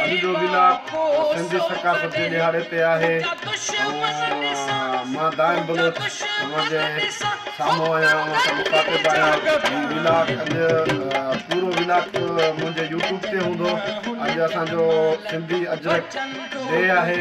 اڄ جو ضلع سنڌي ثقافت جي ڏهاڙي تي آهي ۽ مان دائم بلوچ اوهان جي سامهون آهيان اوهان سان مخاطب آهيان هي ولاگ اڄ پورو ولاگ منهنجي يوٽيوب تي هوندو اڄ اسان جو سنڌي اجرڪ ڊي آهي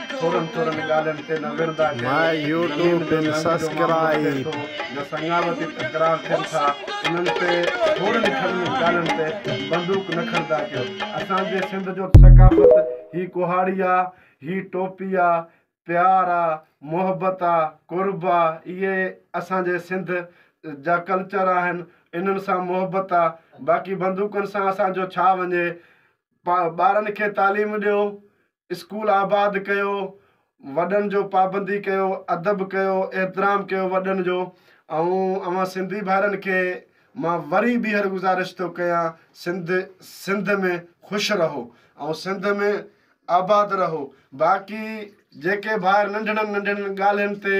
ٿورن ٿورن ڳالهين تي نه ورندا ڪيو زمين جو لنڪ جو معاملو اچي ٿو يا سڱاوتي تڪرار ٿين ٿا انهن تي ٿورن ٿرن ڳالهين تي بندوق نه کڻدا ڪيو اسان جي سنڌ جو ثقافت هي ڪهاڙي آ هي ٽوپي آ پيار آ محبت آ قرب آ اهي اسان جي سنڌ جا ڪلچر آهن انهن سان محبت آ باقي بندوقن سان اسان جو ڇا وڃي ٻارن کي تعليم ڏيو اسڪول آباد ڪيو، وڏن جو پابندي ڪيو، ادب ڪيو، احترام ڪيو وڏن جو ۽ اوهان سنڌي ڀائرن کي مان وري ٻيهر گذارش ٿو ڪيان سنڌ سنڌ ۾ خوش رهو ۽ سنڌ ۾ آباد رهو باقي جيڪي ڀائر ننڍڙن ننڍڙن ڳالهين تي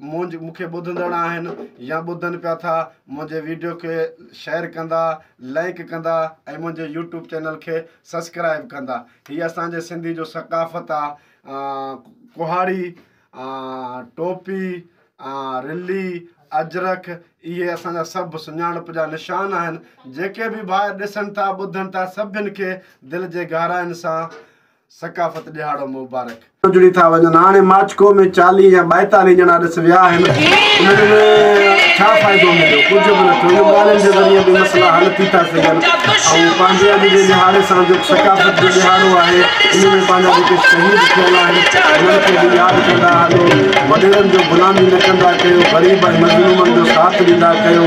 منهنج مون کي ٻڌندڙ آهن يا ٻڌن پيا ٿا منهنجي ويڊيو کي شيئر ڪندا لائيڪ ڪندا ۽ منهنجي يوٽيوب چينل کي سسڪرائب ڪندا هي اسان جي سنڌي جو ثقافت آ ڪهاڙي ٽوپي رلي اجرڪ اهي اسان جا سڀ سڃاڻپ جا نشان آهن جيڪي به ڀائر ڏسن ٿا ٻڌن ٿا سڀن کي دل جي گهراين سان ثقافت ڏهاڙو مبارڪ. جڙي ٿا وڃن هاڻي ماڇڪو ۾ چاليهه يا ٻائيتاليهه ڄڻا ڏس ويا آهن انهن ۾ ڇا فائدو مليو ڪجهه به نه ٿيو انهن ڳالهين جي ذريعي به مسئلا حل ٿي ٿا سگهن ۽ پنهنجي اڄ جي ڏهاڙي سان جيڪو ثقافت جو ڏهاڙو آهي ان ۾ پنهنجا جيڪي شهيد ٿيل آهن انهن کي به ياد ڪندا هلو وڏيرن جو غلامي نه ڪندا ڪيو غريب ۽ مظلومن جو ساٿ ڏيندا ڪيو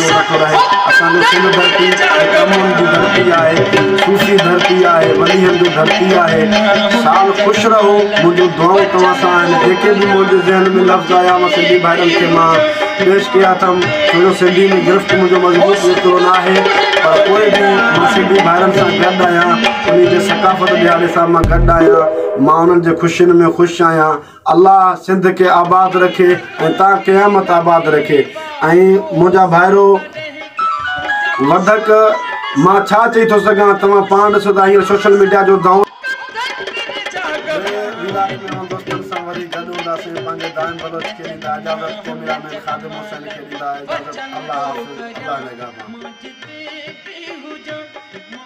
جو رکڙ آهي اسان جو سنڌ ڌرتي هڪ امن جي ڌرتي آهي صوفي ڌرتي آهي وليين جو ڌرتي آهي سال خوش رهو منهنجون دعائون توهان سان آهن جيڪي به منهنجي ذهن ۾ لفظ آيا مان سنڌي ڀائرن کي مان پيش ڪيا اٿم ڇو جو سنڌي ۾ گرفت منهنجو مضبوط ايترو نه آهي پر پوء به مان سنڌي ڀائرن سان گڏ آهيان انهن جي ثقافت ڏهاڙي سان مان گڏ آهيان مان انهن جي خوشين ۾ خوش آهيان الله سنڌ کي آباد رکي ۽ تان قيامت آباد رکي ۽ منهنجا ڀائرو وڌڪ مان ڇا چئي ٿو سگهان توهان پاڻ ڏسو ته هينئر سوشل ميڊيا جو دور